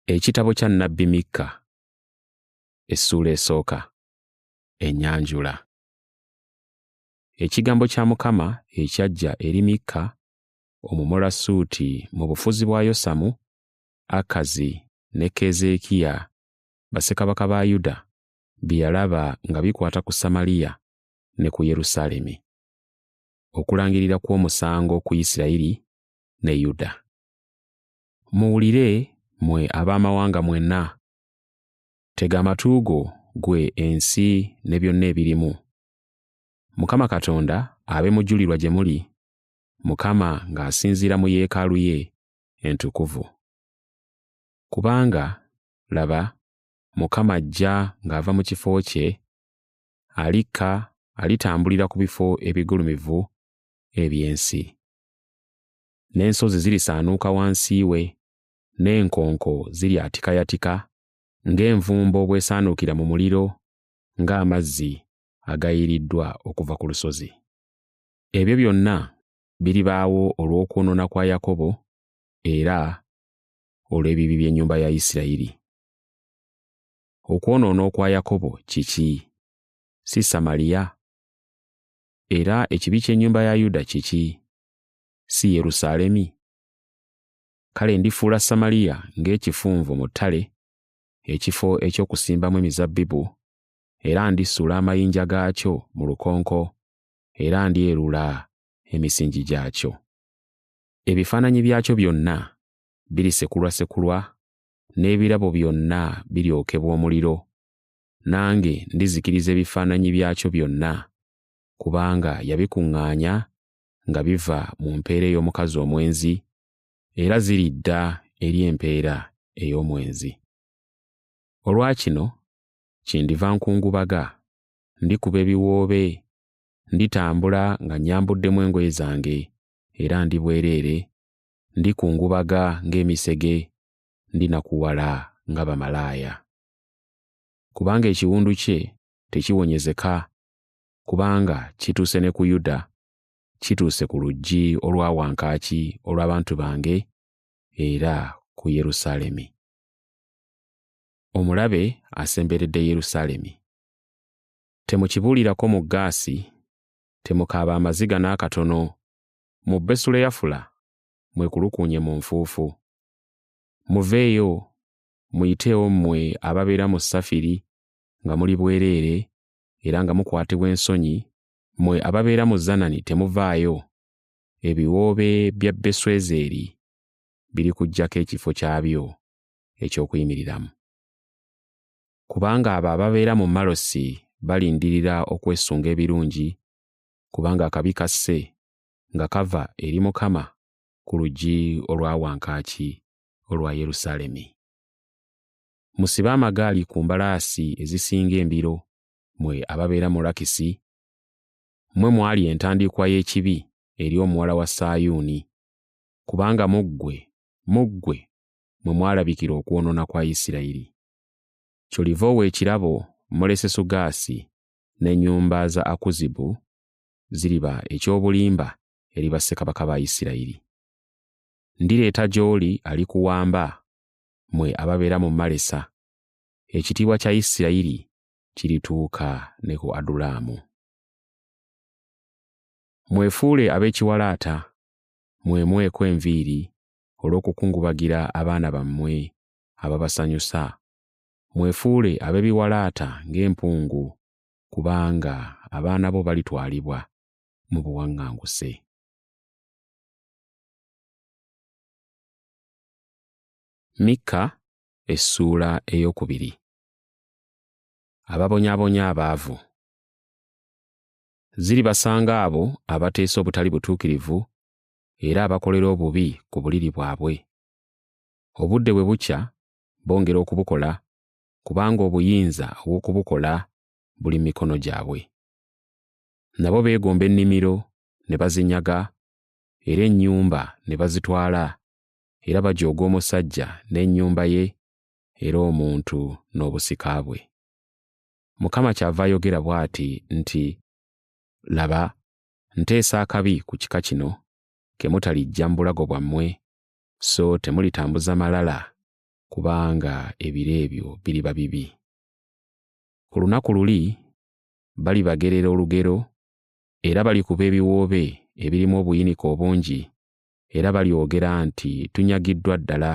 Ekitabo kya Nabbi Mikka, essuula esooka, enyanjula. Ekigambo kya Mukama ekyajja eri Mikka Omumorasuuti mu bufuzi bwa Yosamu, Akazi ne Keezeekiya bassekabaka ba Yuda bye yalaba nga bikwata ku Samaliya ne ku Yerusaalemi. Okulangirira kw'omusango ku Isirayiri ne Yuda. Muwulire mwe ab'amawanga mwenna, tega amatu go gwe ensi ne byonna ebirimu. Mukama Katonda abe mujulirwa gye muli, Mukama ng'asinziira mu yeekaalu ye entukuvu. Kubanga laba, Mukama ajja ng'ava mu kifo kye, alikka alitambulira ku bifo ebigulumivu eby'ensi. n'ensozi zirisaanuuka wansi we, n'enkonko ziryatikayatika ng'envumbo bw'esaanuukira mu muliro, ng'amazzi agayiiriddwa okuva ku lusozi. Ebyo byonna biribaawo olw'okwonoona kwa Yakobo era olw'ebibi by'ennyumba ya Isirayiri. Okwonoona okwa Yakobo kiki? Si Samaliya? Era ekibi ky'ennyumba ya Yuda kiki? Si Yerusaalemi? Kale ndifuula Samaliya ng'ekifunvu mu ttale, ekifo eky'okusimbamu emizabbibu, era ndisuula amayinja gaakyo mu lukonko, era ndyerula emisingi gyakyo. Ebifaananyi byakyo byonna birisekulwasekulwa, n'ebirabo byonna biryokebwa omuliro, nange ndizikiriza ebifaananyi byakyo byonna, kubanga yabikuŋŋaanya nga biva mu mpeera ey'omukazi omwenzi, era ziridda eri empeera ey'omwenzi. Olwa kino, kyendiva nkungubaga, ndikuba ebiwoobe, nditambula nga nnyambuddemu engoye zange, era ndi bwereere, ndikungubaga ng'emisege, ndinakuwala nga bamalaaya. kubanga ekiwundu kye tekiwonyezeka, kubanga kituuse ne ku Yuda, kituuse ku luggi olwa wankaaki olw'abantu bange, era ku Yerusaalemi. Omulabe asemberedde Yerusaalemi. Temukibuulirako mu Gaasi, temukaaba amaziga n'akatono, mu Besuleyafula mwekulukuunye mu nfuufu. Muveeyo, muyiteewo mmwe ababeera mu Safiri nga muli bwereere era nga mukwatibwa ensonyi, mmwe ababeera mu Zanani temuvaayo, ebiwoobe bya Beswezeeri birikuggyako ekifo kyabyo eky'okuyimiriramu. Kubanga abo ababeera mu Malosi balindirira okwesunga ebirungi, kubanga akabi kasse nga kava eri Mukama ku luggi olwa wankaaki olwa Yerusaalemi. Musibe amagaali ku mbalaasi ezisinga embiro, mwe ababeera mu Lakisi, mmwe mwali entandikwa y'ekibi eri omuwala wa Sayuuni, kubanga mu ggwe, mu ggwe mwe mwalabikira okwonoona kwa Isirayiri. Kyoliva owa ekirabo Molesesugaasi n'ennyumba za Akuzibu ziriba eky'obulimba eri bassekabaka ba Isirayiri. Ndireeta gy'oli alikuwamba, mwe ababeera mu Malesa. Ekitiibwa kya Isirayiri kirituuka ne ku Adulaamu. Mwefuule ab'ekiwalaata, mwemweko enviiri olw'okukungubagira abaana bammwe ababasanyusa, mwefuule ab'ebiwalaata ng'empungu, kubanga abaana bo balitwalibwa mu buwaŋŋanguse. mikka essuula ey'okubiri ababonyabonya abaavu ziribasanga abo abateesa obutali butuukirivu era abakolera obubi ku buliri bwabwe obudde bwe bukya bongera okubukola kubanga obuyinza obw'okubukola buli mu mikono gyabwe nabo beegomba ennimiro ne bazinyaga era ennyumba ne bazitwala, era bajooga omusajja n'ennyumba ye era omuntu n'obusika bwe. Mukama kyava ayogera bw'ati nti, Laba, nteesa akabi ku kika kino, ke mutaliggya mu bulago bwammwe, so temulitambuza malala, kubanga ebiro ebyo biriba bibi. Ku lunaku luli balibagerera olugero era balikuba ebiwoobe ebirimu obuyinike obungi era balyogera nti tunyagiddwa ddala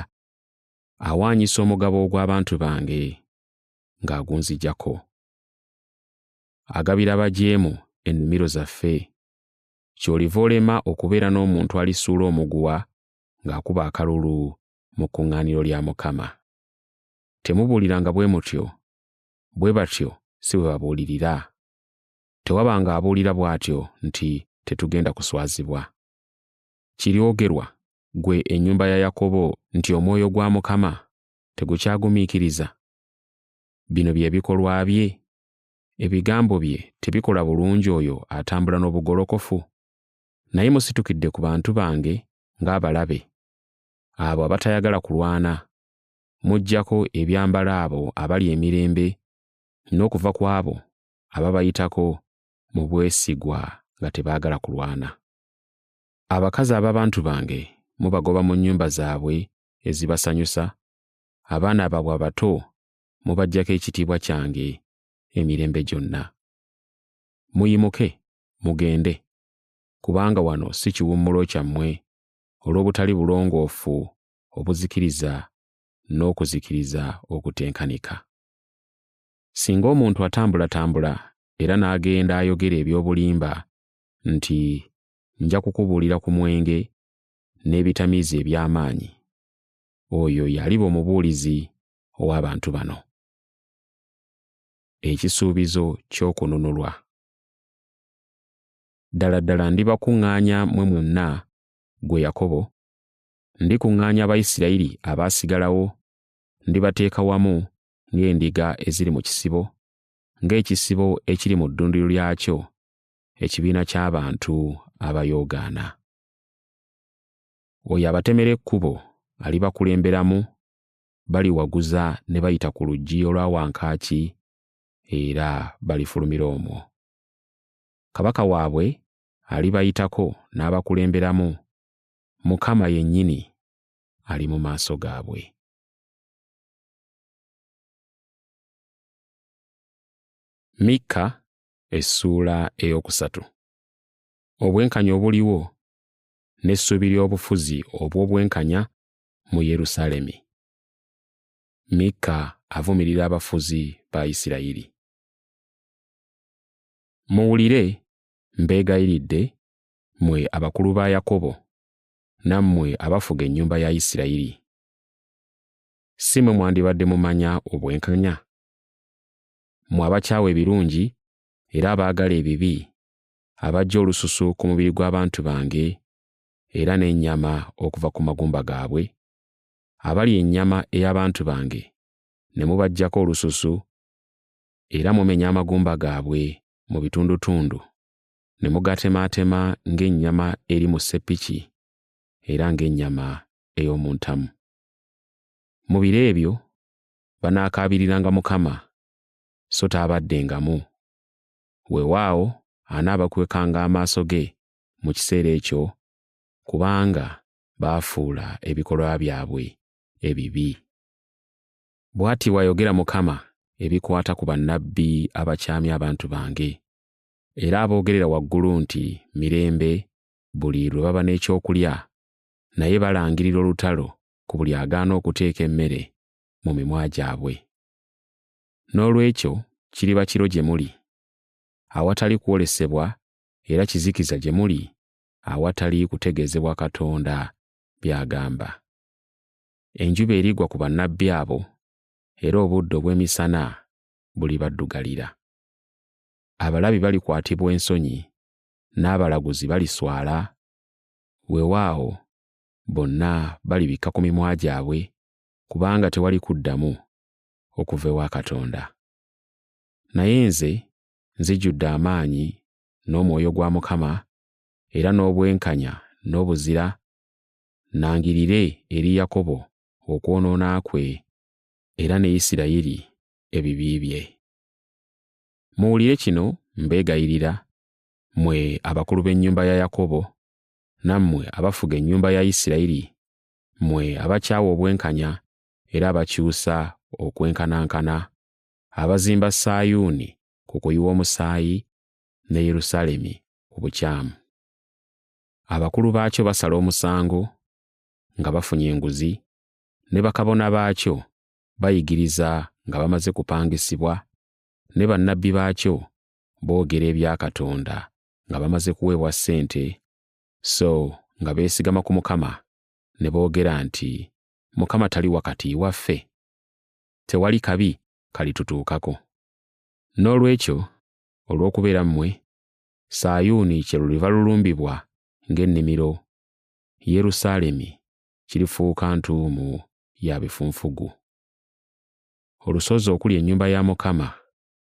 awaanyisa omugabo ogw'abantu bange ng'agunzijako agabira abajeemu ennimiro zaffe ky'oliva olema okubeera n'omuntu alisuula omuguwa ng'akuba akalulu mu kkuŋŋaaniro lya mukama temubuuliranga bwe mutyo bwe batyo si bwe babuulirira tewabanga abuulira bw'atyo nti tetugenda kuswazibwa. Kiryogerwa, ggwe ennyumba ya Yakobo nti omwoyo gwa Mukama tegukyagumiikiriza? Bino bye bikolwa bye? Ebigambo bye tebikola bulungi oyo atambula n'obugolokofu? Naye musitukidde ku bantu bange ng'abalabe, abo abatayagala kulwana, muggyako ebyambalo abo abali emirembe, n'okuva ku abo ababayitako mu bwesigwa nga tebaagala kulwana. Abakazi ab'abantu bange mubagoba mu nnyumba zaabwe ezibasanyusa, abaana baabwe abato mubaggyako ekitiibwa kyange emirembe gyonna. Muyimuke mugende, kubanga wano si kiwummulo kyammwe olw'obutali bulongoofu obuzikiriza n'okuzikiriza okutenkanika. Singa omuntu atambulatambula era n'agenda ayogera eby'obulimba nti nja kukubuulira ku mwenge n'ebitamiiza eby'amaanyi, oyo y'aliba omubuulizi ow'abantu bano. Ekisuubizo ky'okununulwa. Ddala ddala ndibakuŋŋaanya mwe mwenna, gwe Yakobo, ndikuŋŋaanya Abayisirayiri abaasigalawo, ndibateeka wamu ng'endiga eziri mu kisibo, ng'ekisibo ekiri mu ddundiro lyakyo, ekibiina ky'abantu abayoogaana. Oyo abatemera ekkubo alibakulemberamu, baliwaguza ne bayita ku luggi olwa wankaaki, era balifulumira omwo. Kabaka waabwe alibayitako n'abakulemberamu, Mukama yennyini ali mu maaso gaabwe. mikka essuula ey'okusatu obwenkanya obuliwo n'essuubi ly'obufuzi obw'obwenkanya mu yerusaalemi mikka avumirira abafuzi ba isirayiri muwulire mbeegayiridde mwe abakulu ba yakobo nammwe abafuga ennyumba ya isirayiri si mwe mwandibadde mumanya obwenkanya? Mwe abakyawa ebirungi era abaagala ebibi, abajja olususu ku mubiri gw'abantu bange era n'ennyama okuva ku magumba gaabwe, abali ennyama ey'abantu bange ne mubaggyako olususu era mumenya amagumba gaabwe mu bitundutundu ne mugatemaatema ng'ennyama eri mu ssepiki era ng'ennyama ey'omu ntamu. Mu biro ebyo banaakaabiriranga Mukama, so taabaddengamu. Weewaawo anaabakwekanga amaaso ge mu kiseera ekyo, kubanga baafuula ebikolwa byabwe ebibi. Bw'ati bw'ayogera Mukama ebikwata ku bannabbi abakyamya abantu bange, era aboogerera waggulu nti mirembe buli lwe baba n'ekyokulya naye balangirira olutalo ku buli agaana okuteeka emmere mu mimwa gyabwe. N'olwekyo kiriba kiro gye muli, awatali kwolesebwa era kizikiza gye muli awatali kutegeezebwa Katonda by'agamba. Enjuba erigwa ku bannabbi abo era obudde obw'emisana bulibaddugalira. Abalabi balikwatibwa ensonyi n'abalaguzi baliswala Weewaawo, bonna balibikka ku mimwa gyabwe, kubanga tewali kuddamu okuva ewa Katonda. Naye nze nzijjudde amaanyi n'Omwoyo gwa Mukama, era n'obwenkanya n'obuzira, nnangirire eri Yakobo okwonoona kwe, era ne Isirayiri ebibi bye. Muwulire kino, mbeegayirira, mwe abakulu b'ennyumba ya Yakobo, nammwe abafuga ennyumba ya Isirayiri, mwe abakyawa obwenkanya era abakyusa okwenkanankana, abazimba Sayuuni ku kuyiwa omusaayi ne Yerusaalemi ku bukyamu. Abakulu baakyo basala omusango nga bafunye enguzi, ne bakabona baakyo bayigiriza nga bamaze kupangisibwa, ne bannabbi baakyo boogera ebya Katonda nga bamaze kuweebwa ssente, so nga beesigama ku Mukama ne boogera nti, Mukama tali wakati waffe? Tewali kabi kalitutuukako. N'olwekyo, olw'okubeera mmwe, Sayuuni kye luliva lulumbibwa ng'ennimiro, Yerusaalemi kirifuuka ntuumu ya bifunfugu. Olusozi okuli ennyumba ya Mukama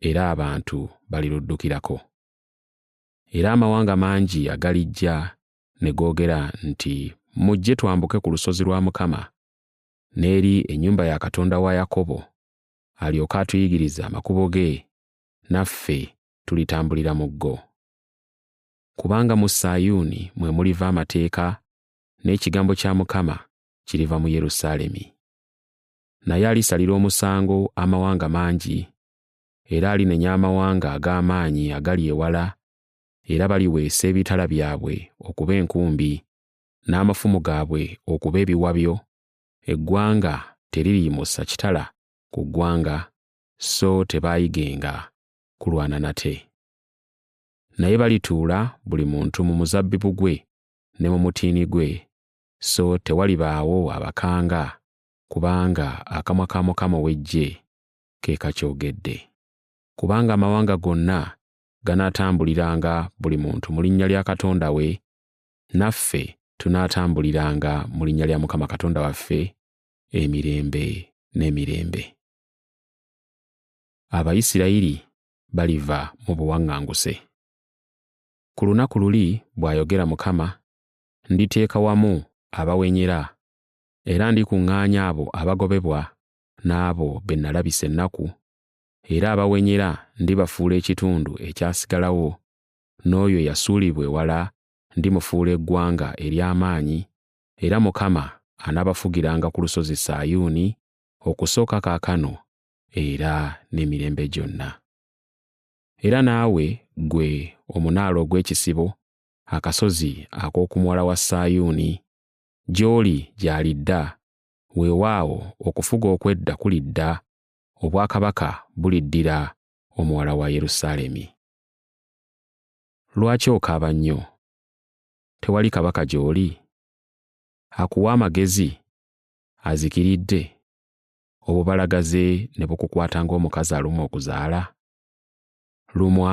era abantu baliruddukirako. Era amawanga mangi agalijja ne googera nti, Mujje twambuke ku lusozi lwa Mukama, n'eri ennyumba ya Katonda wa Yakobo, alyoke atuyigirize amakubo ge, naffe tulitambulira mu go. Kubanga mu Sayuuni mwe muliva amateeka, n'ekigambo kya Mukama kiriva mu Yerusaalemi. naye alisalira omusango amawanga mangi, era alinenya amawanga ag'amaanyi agali ewala, era baliweesa ebitala byabwe okuba enkumbi, n'amafumu gaabwe okuba ebiwabyo, eggwanga teririyimusa kitala ku ggwanga, so tebaayigenga kulwana nate. Naye balituula buli muntu mu muzabbibu gwe ne mu mutiini gwe, so tewalibaawo abakanga kubanga akamwa ka Mukama ow'Eggye ke kakyogedde. Kubanga amawanga gonna ganaatambuliranga buli muntu mu linnya lya Katonda we, naffe tunaatambuliranga mu linnya lya Mukama Katonda waffe emirembe n'emirembe. Abayisirayiri baliva mu buwaŋŋanguse. Ku lunaku luli, bw'ayogera Mukama, nditeeka wamu abawenyera Era ndikuŋŋaanya abo abagobebwa n'abo be nalabisa ennaku, era abawenyera ndibafuula ekitundu ekyasigalawo, n'oyo eyasuulibwa ewala ndimufuula eggwanga ery'amaanyi, era Mukama anaabafugiranga ku lusozi Sayuuni okusooka kaakano era n'emirembe gyonna. Era naawe, ggwe omunaala ogw'ekisibo, akasozi ak'oku muwala wa Sayuuni, gy'oli gy'alidda weewaawo okufuga okw'edda kulidda obwakabaka buliddira omuwala wa yerusaalemi lwaki okaaba nnyo tewali kabaka gy'oli akuwa amagezi azikiridde obubalagaze ne bukukwata ng'omukazi alumwa okuzaala lumwa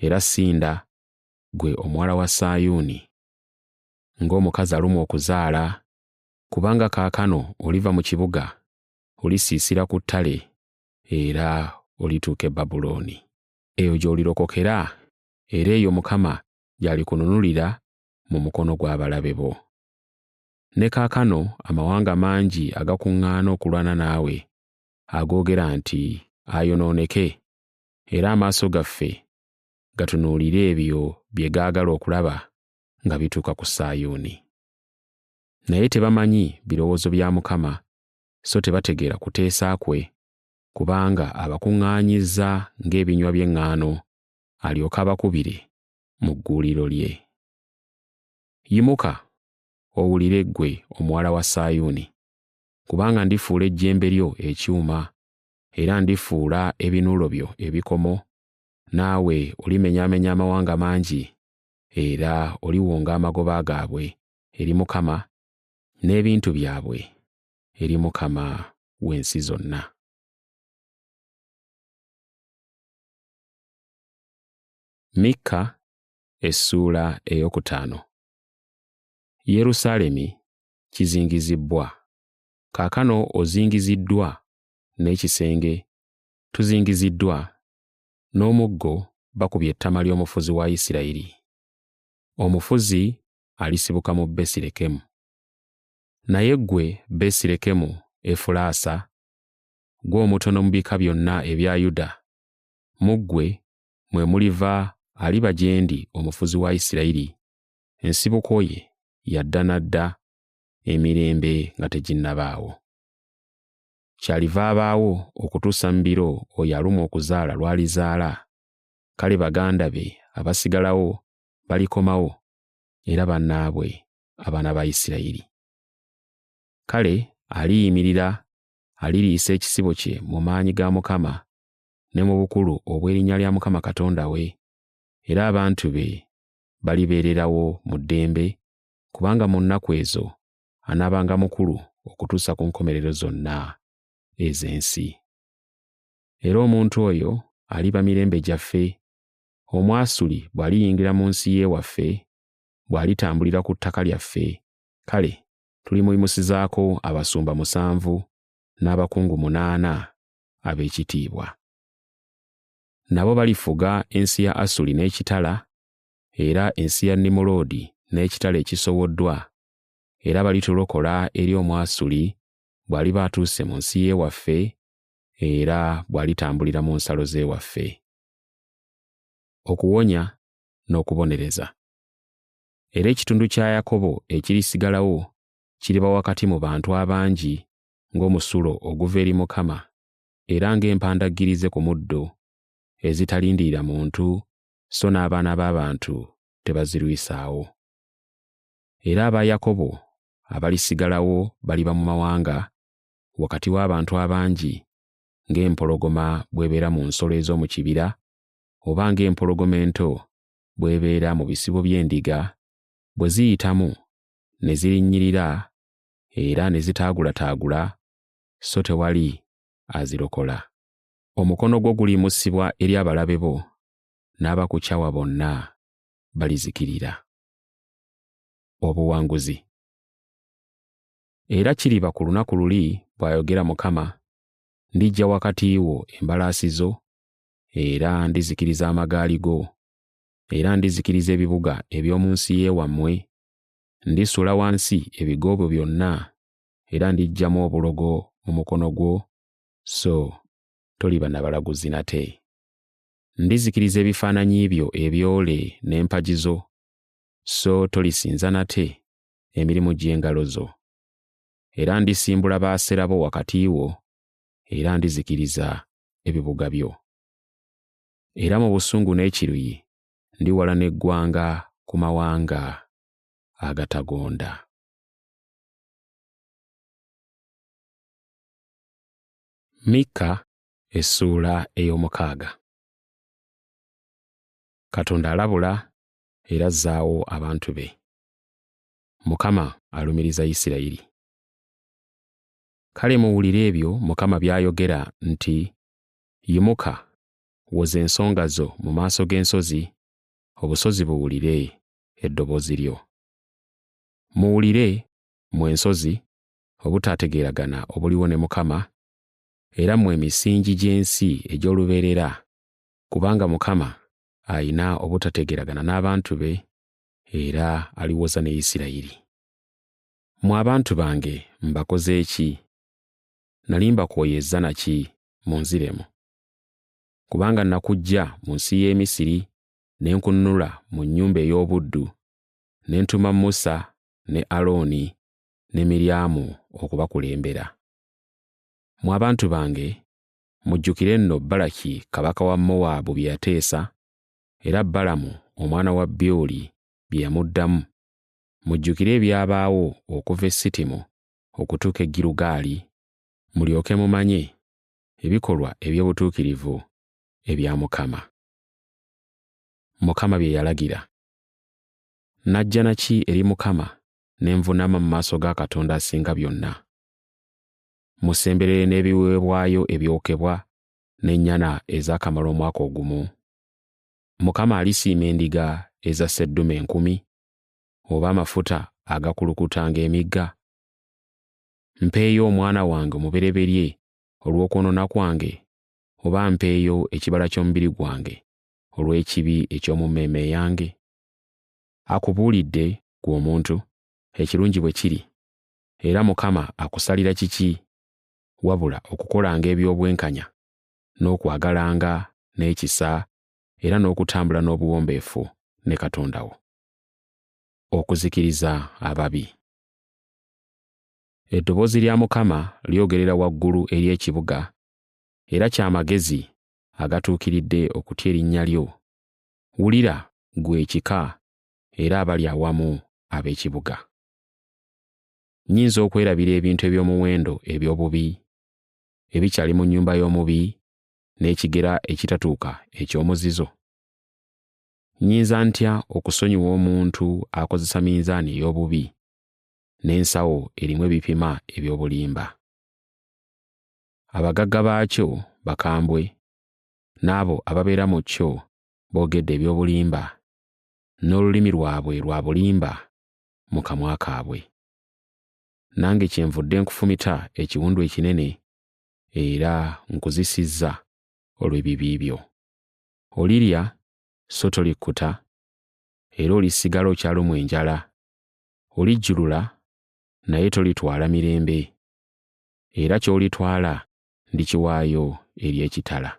era sinda gwe omuwala wa sayuuni ng'omukazi alumwa okuzaala, kubanga kaakano oliva mu kibuga, olisiisira ku ttale, era olituuka e Babulooni. Eyo gy'olirokokera, era eyo Mukama gy'alikununulira mu mukono gw'abalabe bo. Ne kaakano amawanga mangi agakuŋŋaana okulwana naawe, agoogera nti, Ayonooneke, era amaaso gaffe gatunuulire ebyo bye gaagala okulaba, nga bituuka ku Sayuuni. Naye tebamanyi birowoozo bya Mukama, so tebategeera kuteesa kwe, kubanga abakuŋŋaanyizza ng'ebinywa by'eŋŋaano, alyoke abakubire mu gguuliro lye. Yimuka, owulire ggwe omuwala wa Sayuuni, kubanga ndifuula ejjembe lyo ekyuma, era ndifuula ebinuulo byo ebikomo, naawe olimenyaamenya amawanga mangi, era oliwonga amagoba gaabwe eri Mukama n'ebintu byabwe eri Mukama w'ensi zonna. Mikka essuula eyokutaano. Yerusaalemi kizingizibbwa, kaakano ozingiziddwa n'ekisenge tuzingiziddwa n'omuggo bakubye ettama ly'omufuzi wa Isirayiri. Omufuzi alisibuka mu Besirekemu. Naye ggwe Besirekemu Efulaasa, ggwe omutono mu bika byonna ebya Yuda, mu ggwe mwe muliva aliba gye ndi omufuzi wa Isirayiri, ensibuko ye ya dda na dda, emirembe nga teginnabaawo. kyaliva abaawo okutuusa mu biro oyo alumwa okuzaala lw'alizaala, kale baganda be abasigalawo balikomawo era bannaabwe abaana ba Isirayiri. Kale aliyimirira aliriisa ekisibo kye mu maanyi ga Mukama ne mu bukulu obw'erinnya lya Mukama Katonda we, era abantu be balibeererawo mu ddembe, kubanga mu nnaku ezo anaabanga mukulu okutuusa ku nkomerero zonna ez'ensi. Era omuntu oyo aliba mirembe gyaffe, Omwasuli bw'aliyingira mu nsi y'ewaffe, bw'alitambulira ku ttaka lyaffe, kale tulimuyimusizaako abasumba musanvu n'abakungu munaana ab'ekitiibwa. Nabo balifuga ensi ya Asuli n'ekitala, era ensi ya Nimuloodi n'ekitala ekisowoddwa era balitulokola eri Omwasuli bw'aliba atuuse mu nsi y'ewaffe era bw'alitambulira mu nsalo z'ewaffe. Okuwonya n'okubonereza. Era ekitundu kya Yakobo ekirisigalawo kiriba wakati mu bantu abangi ng'omusulo oguva eri Mukama era ng'empandaggirize ku muddo ezitalindirira muntu so n'abaana b'abantu tebazirwisaawo. era aba Yakobo abalisigalawo baliba mu mawanga, wakati w'abantu abangi, ng'empologoma bw'ebeera mu nsolo ez'omu kibira, oba ng'empologoma ento bw'ebeera mu bisibo by'endiga, bwe ziyitamu ne zirinnyirira era ne zitaagulataagula, so tewali azirokola. Omukono gwo guliyimusibwa eri abalabe bo, n'abakukyawa bonna balizikirira. obuwanguzi era kiriba ku lunaku luli bw'ayogera mukama ndijja wakati wo embalaasi zo era ndizikiriza amagaali go era ndizikiriza ebibuga eby'omu nsi y'ewammwe ndisula wansi ebigo byo byonna era ndiggyamu obulogo mu mukono gwo so toliba na balaguzi nate ndizikiriza ebifaananyi byo ebyole n'empagizo so tolisinza nate emirimu gy'engalo zo. Era ndisimbula baasera bo wakati wo, era ndizikiriza ebibuga byo. Era mu busungu n'ekiruyi ndiwala n'eggwanga ku mawanga agatagonda. Mikka essuula ey'omukaaga. Katonda alabula era azzaawo abantu be. Mukama alumiriza Isirayiri. Kale muwulire ebyo Mukama by'ayogera nti, Yimuka, woza ensonga zo mu maaso g'ensozi, obusozi buwulire eddoboozi lyo. Muwulire, mmwe ensozi, obutaategeeragana obuliwo ne Mukama, era mmwe emisingi gy'ensi egy'olubeerera, kubanga Mukama alina obutategeragana n'abantu be era aliwoza ne Isirayiri. Mwe abantu bange mbakoze ki? Nali mbakooyezza na ki? Munziremu. Kubanga nakuggya mu nsi y'e Misiri ne nkunnula mu nnyumba ey'obuddu, ne ntuma Musa ne Alooni ne Miryamu okubakulembera. Mwe abantu bange Mujjukire nno Balaki kabaka wa Mowaabu bye yateesa, era Balamu omwana wa Byoli bye yamuddamu. Mujjukire ebyabaawo okuva e Sitimu okutuuka e Girugaali, mulyoke mumanye ebikolwa eby'obutuukirivu ebya Mukama. Mukama bye yalagira. Najja na ki eri Mukama ne nvunaama mu maaso ga Katonda Asinga Byonna? musemberere n'ebiweebwayo ebyokebwa n'ennyana ezaakamala omwaka ogumu. Mukama alisiima endiga eza sseddume enkumi, oba amafuta agakulukuta ng'emigga? Mpeeyo omwana wange omubereberye olw'okwonoona kwange, oba mpeeyo ekibala ky'omubiri gwange olw'ekibi eky'omu mmeeme yange? Akubuulidde, ggwe omuntu, ekirungi bwe kiri, Era Mukama akusalira kiki wabula okukolanga eby'obwenkanya, n'okwagalanga, n'ekisa, era n'okutambula n'obuwombeefu ne Katonda wo. Okuzikiriza ababi. Eddoboozi lya Mukama lyogerera waggulu eri ekibuga, era kya magezi agatuukiridde okutya erinnya lyo. Wulira, ggwe ekika, era abali awamu ab'ekibuga. Nnyinza okwerabira ebintu eby'omuwendo eby'obubi ebikyali mu nnyumba y'omubi n'ekigera ekitatuuka eky'omuzizo? Nnyinza ntya okusonyiwa omuntu akozesa minzaani ey'obubi n'ensawo erimu ebipima eby'obulimba? Abagagga baakyo bakambwe, n'abo ababeera mu kyo boogedde eby'obulimba, n'olulimi lwabwe lwa bulimba mu kamwa kaabwe. Nange kyenvudde nkufumita ekiwundu ekinene era nkuzisizza olw'ebibi byo. Olirya so tolikkuta, era olisigala okyalumwa enjala. Olijjulula naye tolitwala mirembe, era ky'olitwala ndikiwaayo eri ekitala.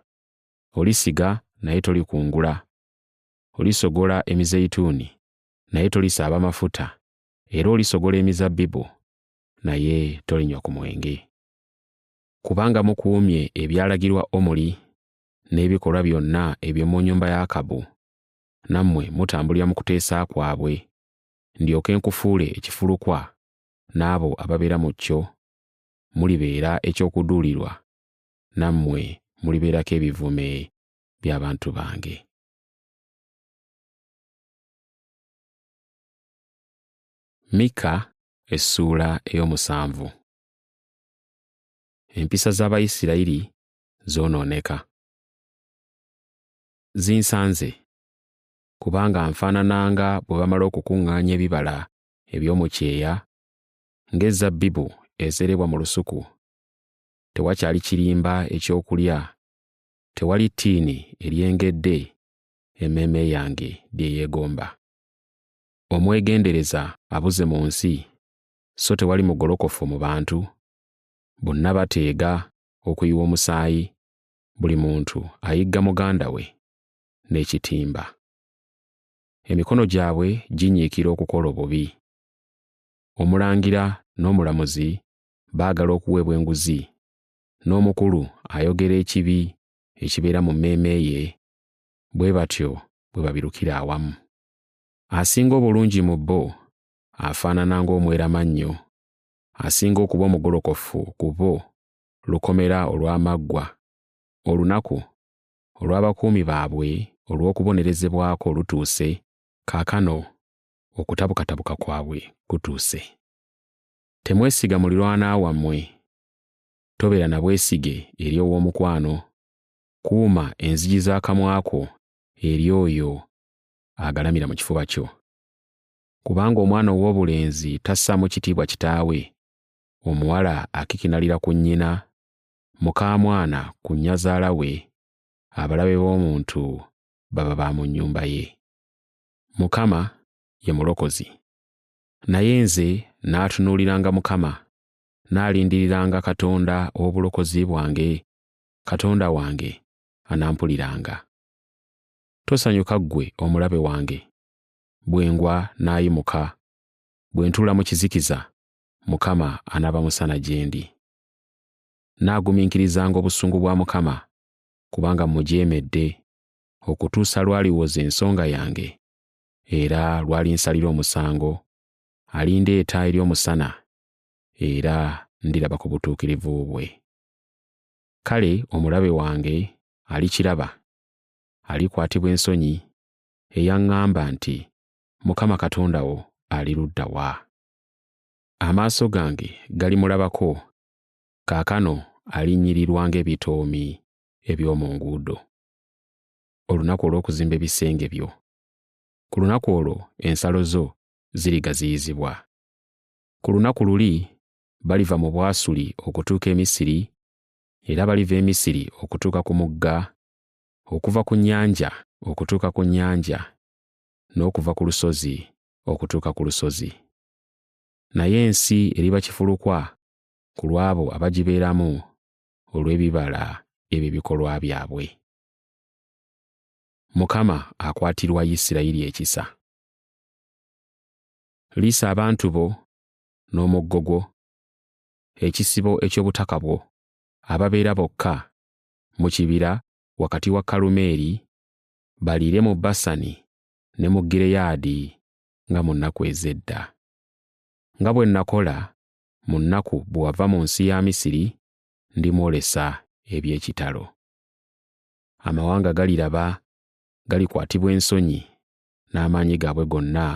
Olisiga naye tolikungula, olisogola emizeyituuni naye tolisaaba mafuta, era olisogola emizabbibu, naye tolinywa ku mwenge. Kubanga mukuumye ebyalagirwa Omuli n'ebikolwa byonna eby'omu nnyumba ya Akabu, nammwe mutambulira mu kuteesa kwabwe, ndyoke nkufuule ekifulukwa n'abo ababeera mu kyo, mulibeera eky'okuduulirwa, nammwe mulibeerako ebivume by'abantu bange. Mika essuula ey'omusanvu. Empisa z'Abayisirayiri zoonooneka. Zinsanze, kubanga nfaanana nga bwe bamala okukuŋŋaanya ebibala eby'omu kyeya, ng'ezzabbibu ezerebwa mu lusuku. Tewakyali kirimba eky'okulya, tewali ttiini eryengedde emmeeme yange bye yeegomba. Omwegendereza abuze mu nsi, so tewali mugolokofu mu bantu, bonna bateega okuyiwa omusaayi, buli muntu ayigga muganda we n'ekitimba. Emikono gyabwe ginyiikira okukola obubi. Omulangira n'omulamuzi baagala okuweebwa enguzi, n'omukulu ayogera ekibi ekibeera mu mmeeme ye bwe batyo bwe babirukira awamu. Asinga obulungi mu bo afaanana ng'omweramannyo, asinga okuba omugolokofu ku bo lukomera olw'amaggwa, olunaku olw'abakuumi baabwe olw'okubonerezebwako lutuuse, kaakano okutabukatabuka kwabwe kutuuse. Temwesiga mulirwana wammwe, tobeera na bwesige eri ow'omukwano, kuuma enzigi z'akamwa ko eri oyo agalamira mu kifuba kyo. Kubanga omwana ow'obulenzi tassaamu kitiibwa kitaawe, omuwala akikinalira ku nnyina, mukaamwana ku nnyazaala we, abalabe b'omuntu baba ba mu nnyumba ye. Mukama ye mulokozi. Naye nze naatunuuliranga Mukama, naalindiriranga Katonda ow'obulokozi bwange Katonda wange anampuliranga. Tosanyuka ggwe omulabe wange, bwe ngwa n'ayimuka, bwe ntuula mu kizikiza, Mukama anaaba musana gye ndi. Nnaagumiikirizanga obusungu bwa Mukama, kubanga mmujeemedde, okutuusa lw'aliwoza ensonga yange, era lw'alinsalira omusango, alindeeta eri omusana, era ndiraba ku butuukirivu bwe. kale omulabe wange alikiraba alikwatibwa ensonyi eyaŋŋamba nti mukama katonda wo ali ludda wa amaaso gange galimulabako kaakano alinnyirirwa ng'ebitoomi eby'omu nguudo olunaku olw'okuzimba ebisenge byo ku lunaku olwo ensalo zo zirigaziyizibwa ku lunaku luli baliva mu Bwasuli okutuuka e Misiri, era baliva e Misiri okutuuka ku mugga, okuva ku nnyanja okutuuka ku nnyanja, n'okuva ku lusozi okutuuka ku lusozi. Naye ensi eriba kifulukwa ku lw'abo abagibeeramu olw'ebibala eby'ebikolwa byabwe. Mukama akwatirwa Isirayiri ekisa. Liisa abantu bo n'omuggo gwo, ekisibo eky'obutaka bwo, ababeera bokka mu kibira wakati wa Kalumeeri, baliire mu Basani ne mu Gireyaadi nga mu nnaku ez'edda. Nga bwe nakola mu nnaku bwe wava mu nsi ya Misiri, ndimwolesa eby'ekitalo. Amawanga galiraba, galikwatibwa ensonyi n'amaanyi gaabwe gonna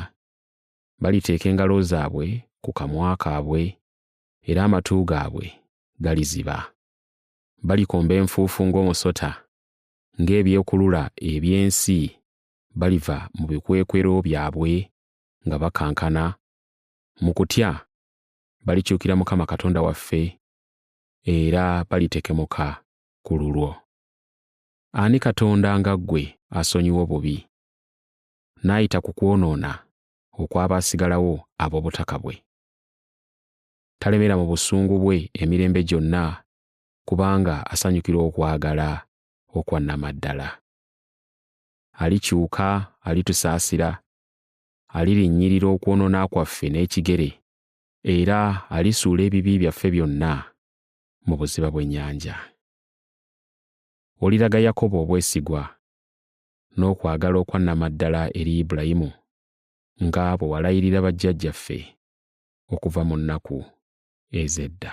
baliteeka engalo zaabwe ku kamwa kaabwe, era amatu gaabwe galiziba. Balikomba enfuufu ng'omusota, ng'ebyekulula eby'ensi baliva mu bikwekwero byabwe nga bakankana. Mu kutya balikyukira Mukama Katonda waffe, era balitekemuka ku lulwo. Ani Katonda nga ggwe asonyiwa obubi, n'ayita ku kwonoona okw'abaasigalawo ab'obutaka bwe. Talemera mu busungu bwe emirembe gyonna kubanga asanyukira okwagala okwa nnamaddala. Alikyuka, alitusaasira, alirinnyirira okwonoona kwaffe n'ekigere, era alisuula ebibi byaffe byonna mu buziba bw'ennyanja. Oliraga Yakobo obwesigwa, n'okwagala okwannamaddala eri Ibulayimu, nga bwe walayirira bajjajjaffe okuva mu nnaku ez'edda.